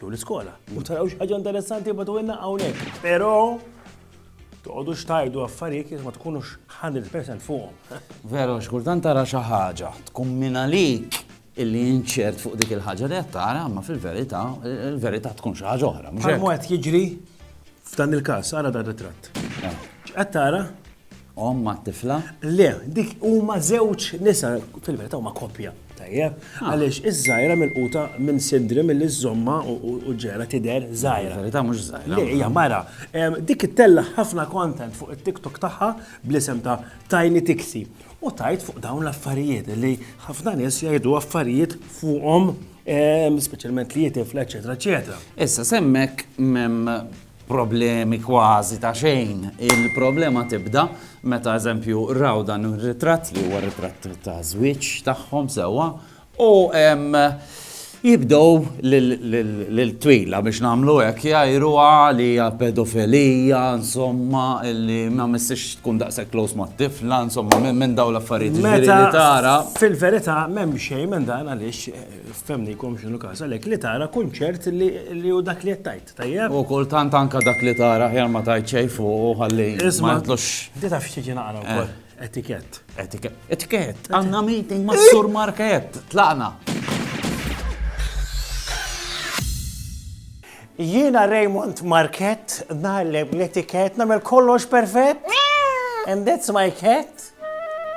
jew l-iskola. U taraw xi ħaġa interessanti bagħtuilna hawnhekk. Però toqgħodux tgħidu affarijiet jekk ma tkunux 100% fuqhom. Veru, x'kultant tara xi ħaġa, tkun minn għalik illi inċert fuq dik il-ħaġa li qed tara, ma fil-verità, il-verità tkun xi ħaġa oħra. Mhux qed jiġri f'dan il-każ, ara dan ritratt. Qed tara Omm mat-tifla? Le, dik huma żewġ nisa, fil-verità huma koppja. Tajjeb, ah. għaliex iż-żgħira milquta minn sidri milli żomma u ġera tidher żgħira. Verità mhux żgħira. Le, hija mara. Dik ittella ħafna content fuq it-TikTok tagħha bl-isem ta' Tiny Tixi. U tajt fuq dawn l-affarijiet li ħafna nies jgħidu affarijiet fuqhom speċjalment li jitifla, eċetera, eċetera. Issa semmek problemi kważi ta' xejn. Il-problema tibda meta eżempju raw dan ir-ritratt li huwa ritratt ta' żwieġ tagħhom sewwa u jibdew lil twila biex nagħmlu hekk jgħajruha li hija pedofilija, insomma, li ma missiex tkun daqshekk close mat-tifla, insomma, minn dawn l-affarijiet li tara. Fil-verità m'hemm xejn minn dan għaliex f'hemmnikom x'inhu każ għalhekk li tara kunċert li hu dak li qed tgħid. Tajjeb. U kultant anke dak li tara aħjar ma tgħid xejn fuqu ħalli ma jitlux. Di taf x'tiġi naqra wkoll? Etikett. Etikett. Etikett. Għandna meeting ma' Sur Markett. Tlaqna. Jiena Raymond Markett nagħlem l-etikett nagħmel kollox perfett. And that's my cat.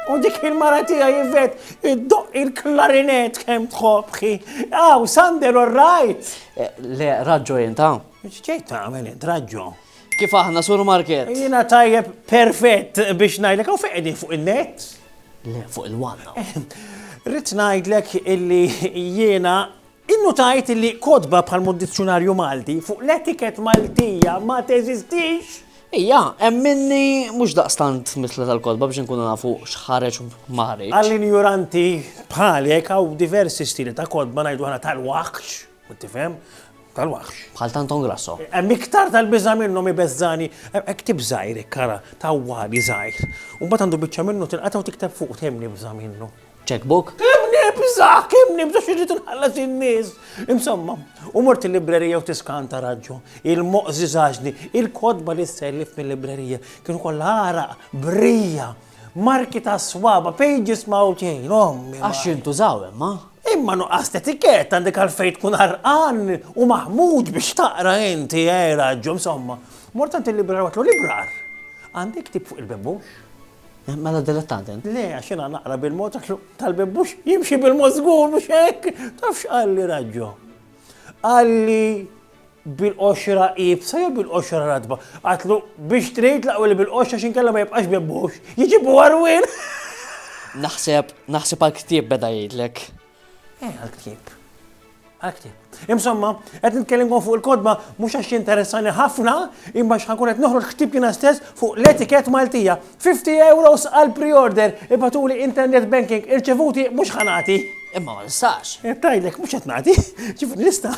U dik il-mara tiegħi Ivet iddoq il-klarinett kemm tħobbħi. Aw, Sander, all right! Eh, le, raġġo inta. X'ġejt tagħmel int raġġo? Kif aħna sur market? Jiena tajjeb perfett biex ngħidlek hawn fejn fuq il-net. Le, fuq il-wanna. Eh, Rrid ngħidlek illi jiena Innutajt illi kotba bħal mod dizzjunarju Malti fuq l-etiket Maltija ma teżistix! Ija, hemm minni mhux daqstant mitla tal-kotba biex inkunu nafu x'ħareġ u ma ħareġx. Għal injoranti bħalek hawn diversi stili ta' kotba ngħidu aħna tal-waħx, tifhem, tal-waħx. Bħal ta' Anton Grasso. Hemm iktar tal-biża' minnhom ibeżżagħni, hemm ktieb żgħir hekk ara, ta' wali żgħir. U mbagħad għandu biċċa minnu tinqata' u tikteb fuqu tgħinni bża' minnu. Check book? Kemm nibża', kemm nibża' x'irrid inħallas in-nies! Insomma, u mort il-librerija u tiskan ta' raġġu. Il-moqs żiżaġni, il-kotba li ssellif mil-librerija kienu kollha għaraq, brija, marki tas-swaba', pages mgħawġin, ommi! Għax jintużaw imma. Imma nuqqas t'etikett għandek għalfejn tkun għarqan u maħmuġ biex taqra inti, eh, raġġu, insomma. Mort għand il-librar u għedtlu, Librar, għandi ktieb fuq il-bembux? Mela dilettant int. Le, għax jiena naqra bil-mod għax tal-bib mhux jimxi bil-mod żgur mhux hekk. Taf x'qalli raġġo? Qalli bil-qoxra ibsa jew bil-qoxra radba. Għatlu biex trid laqwa li bil-qoxra xinkella ma jibqax bibbux. Jiġibu għarwin. Naħseb, naħseb għal ktieb beda jgħidlek. Eh, għal-ktieb. Għal-ktieb. Imsomma, qed nitkellimkom fuq il-kodba mhux għax jinteressani ħafna, imma x'ħankun qed noħroġ ktieb jiena stess fuq l-etikett Maltija. 50 euros għal pre-order, ibatuli internet banking, irċevuti mhux ħanati. Imma ma nistax. Eh, Tajlek, mhux qed nagħti. Ġifieri nista'.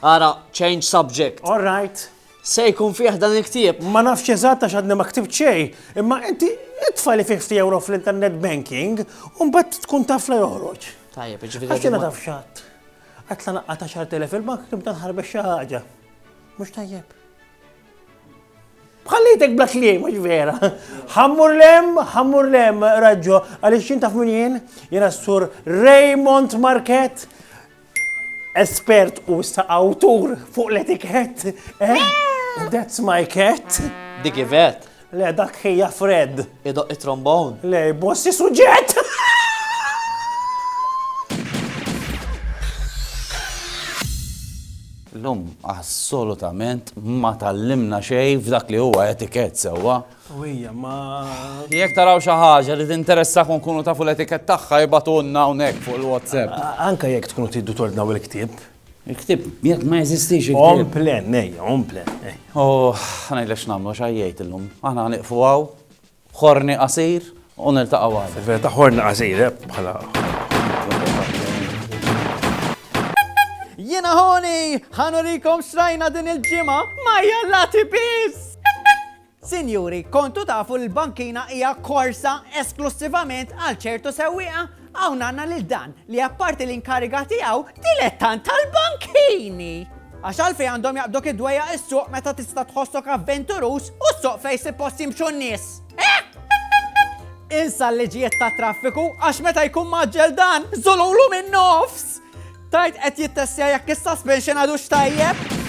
Ara, change subject. All right. Se jkun fih dan il-ktieb? Ma nafx eżatt għax għadni ma ktibt xejn, imma inti itfa' li fih ftit ewro fl-internet banking u mbagħad tkun taf la joħroġ. Tajjeb, jiġifieri. Għax jiena taf x'għadd. Għadd la naqqa' ta' xahar telef il-bank nibda nħarbes xi ħaġa. Mhux tajjeb. Bħallejtek bla kliem, mhux vera. Ħammur lem, ħammur lem, raġġo, għaliex jien taf min jien, jiena s-sur Raymond Market, Espert u issa awtur fuq l-etikett. Eh? That's my cat. Dik ivet. Le, dak ħija Fred. Idoq it-trombon. Le, bossi suġġett. L-lum assolutament ma tallimna xej f'dak li huwa etikett sewwa. Qawwija, ma. Jekk taraw xi ħaġa li tinteressakom u tkunu tafu l-etikett tagħha ibagħtulna hawnhekk fuq il-WhatsApp. Anke jekk tkunu tridu tordnaw il-ktieb. Il-ktieb, jekk ma jeżistix il-ktieb. Home plan, ejja, home plan. U ngħidlek x'nagħmlu għax għajjejt illum. Aħna ħaniqfu hawn, ħorni qasir u niltaqgħu għada. Fil-verità ħorni qasir, eh, bħala. Jiena ħoni, ħanurikom xrajna din il-ġimgħa ma jalla tipis! Sinjuri, kontu tafu li l-bankina hija korsa esklussivament għal ċertu sewwieqa? Hawn għandna lil dan li apparti l-inkariga tiegħu, dilettant tal-bankini! Għax għalfejn għandhom jaqbduk id-dwejjaq is-suq meta tista' tħossok avventuruż u s-suq fejn suppost jimxu n-nies? Insa l-liġijiet ta' traffiku għax meta jkun maġġel dan, żolulu minn nofs! Tajt qed jittessja jekk is-suspension għadu x'tajjeb?